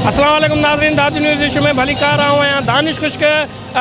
اسلام عليڪم ناظرين داد نيوز ايشو ۾ ڀليڪار آئون آهيان دانش خشڪ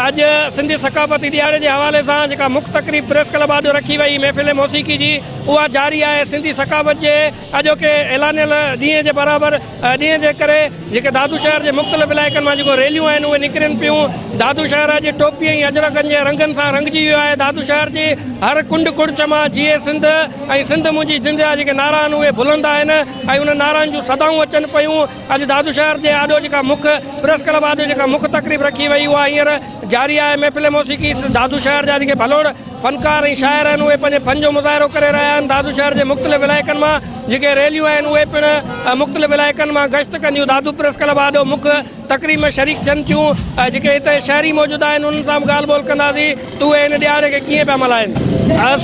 اڄ سنڌي ثقافتي ڏيهاڙي جي حوالي سان جيڪا مک تقريب پريس ڪلب آڏو رکي وئي محفل موسيقي جي اها جاري آهي سنڌي ثقافت جي اڄوڪي اعلانيل ڏينهن جي برابر ڏينهن جي ڪري جيڪي دادو شهر جي مختلف علائقن مان جيڪو ريليون آهن اهي نڪرين پيون دادو شهر اڄ ٽوپي ۽ اجرڪن جي رنگن سان رنگجي ويو آهي دادو شهر جي هر ڪنڊ ڪڙڇ مان جيئي سنڌ ۽ سنڌ منهنجي جن جا جيڪي نعرا آهن اهي بلند آهن ۽ انهن نعرن جون صدائون اچن پيون اڄ دادو شهر جي آڏو جيڪا مک پريس ڪلب آڏو جيڪا مک تقريب رکي وئي اها هينئر جاري آهي محفل موسيقي دادو شهر جا جيڪي ڀلوڙ فنڪار ۽ شاعر آهن اهي پنهنجي فن جو مظاهرو ڪري رهيا آهن دادو شهر جي مختلف علائقن مان جيڪي ريليون آهن اهي پڻ مختلف علائقن مان گشت ڪنديون دادو پريس ڪلب آڏو مک تقريب ۾ شريڪ ٿين ٿيون ۽ جيڪي هتي شهري موجود آهن انهن سان به ڳالهه ٻولهه ڪنداسين ته اهي هن ڏهاڙي کي ڪيئن پيا ملهائين.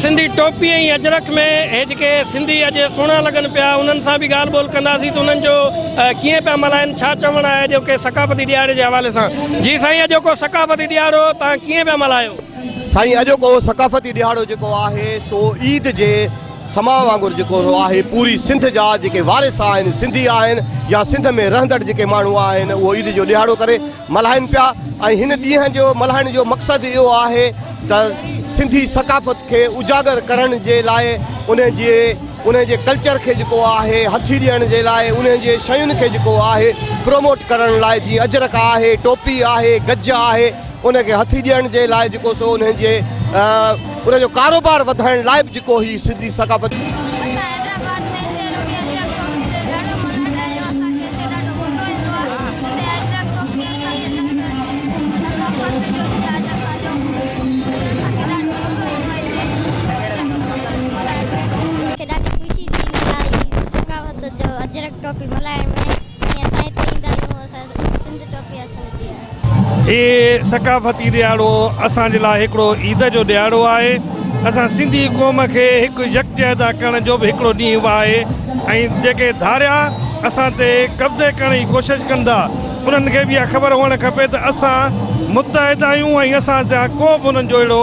سنڌي ٽوپي ۽ اجرڪ ۾ هي جيڪي سنڌي اڄ سهڻا لڳن پيا انهن سان به ڳالهه ٻولهه ڪنداسين ته انهن جو ڪيئن پيا ملهائين ڇا چوڻ آهي اڄوڪي ثقافتي ڏهاڙي جي حوالي سان جي سائين اڄوڪو ثقافتي ڏهاڙو توهان ڪيئن پيا ملهايو. سائين اڄوڪو ثقافتي ڏهاڙو جيڪو آهي سو عيد جي سماء وانگر جيڪو اھو آھي پوري سنڌ جا جيڪي وارث آھن سنڌي آھن يا سنڌ ۾ رھندڙ جيڪي ماڻھو آھن اھو عيد جو ڏيھاڙو ڪري ملھائين پيا ۽ ھن ڏينھن جو ملھائڻ جو مقصد اھو آھي ته سنڌي ثقافت کي اجاگر ڪرڻ جي لاء انھي جي انھي جي ڪلچر کي جيڪو آھي ھٿي ڏيڻ جي لاء انھي جي شين کي جيڪو آھي پروموٽ ڪرڻ لاء جي اجرڪ آھي ٽوپي آھي گج آھي ان کي هٿي ڏيڻ جي لاء جيڪو سو انهن جي ان جو ڪاروبار وڌائڻ لاء به جيڪو هي سنڌي ثقافت هي ثقافتي ڏهاڙو اسان جي لاء هڪڙو عيد جو ڏهاڙو آهي. اسان سنڌي قوم کي هڪ يڪجهتا ڪرڻ جو به هڪڙو ڏينهن به آهي ۽ جيڪي ڌاريا اسان تي قبضي ڪرڻ جي ڪوشش ڪن ٿا انهن کي به اها خبر هئڻ کپي ته اسان متحد آهيون ۽ اسان سان ڪو به انهن جو اهڙو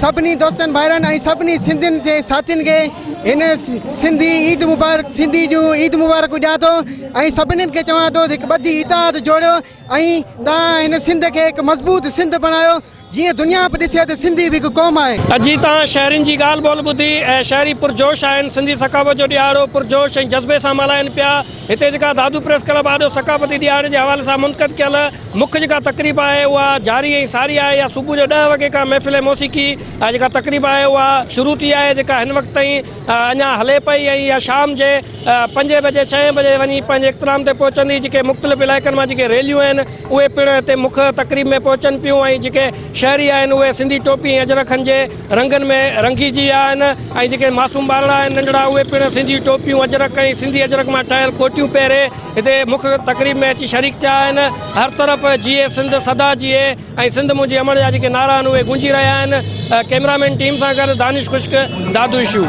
سڀني دوستن ڀائرن ۽ سڀني سنڌين جي ساٿين کي هن سنڌي عيد مبارڪ سنڌي جون عيد مبارڪون ڏيان ٿو ۽ سڀنين کي چوان ٿو هڪ ٻڌي اتحاد جوڙيو ۽ تان هن سنڌ کي هڪ مضبوط سنڌ بڻايو جيئن دنيا به ڏسي ته سنڌي به هڪ قوم آهي. اڄي تان شهرين جي ڳالهه ٻولهه ٻڌي ۽ شهري پرجوش آهن سنڌي ثقافت جو ڏيهاڙو پرجوش ۽ جذبي سان ملهائين پيا. هتي جيڪا دادو پريس ڪلب آڏو ثقافتي ڏهاڙي جي حوالي سان منعقد ڪيل مک جيڪا تقريب آهي اها جاري ۽ ساري آهي يا صبح جو ڏهه وڳي کان محفل موسيقي جيڪا تقريب آهي اها شروع ٿي آهي جيڪا هن وقت تائين اڃا هلي پئي ۽ اها شام جي پنجين بجي ڇهين بجي وڃي پنهنجي اختتام تي پهچندي جيڪي مختلف علائقن مان جيڪي ريليون آهن اهي پڻ هتي مک تقريب ۾ پهچن پيون ۽ جيڪي شهري آهن اهي سنڌي ٽوپي ۽ اجرڪن جي رنگن ۾ رنگي جي ويا آهن ۽ جيڪي معصوم ٻارڙا آهن ننڍڙا اهي پڻ سنڌي ٽوپيون اجرڪ ۽ سنڌي اجرڪ مان ٺهيل ڪوٽيون پهري هتي مک تقريب ۾ اچي شريڪ ٿيا آهن هر طرف جيئي سنڌ سدا جيئي ۽ سنڌ منهنجي امڙ جا جيڪي نعرا آهن اهي گونجي رهيا آهن ڪئميرا مين ٽيم سان گڏ دانش خشڪ دادو اشو.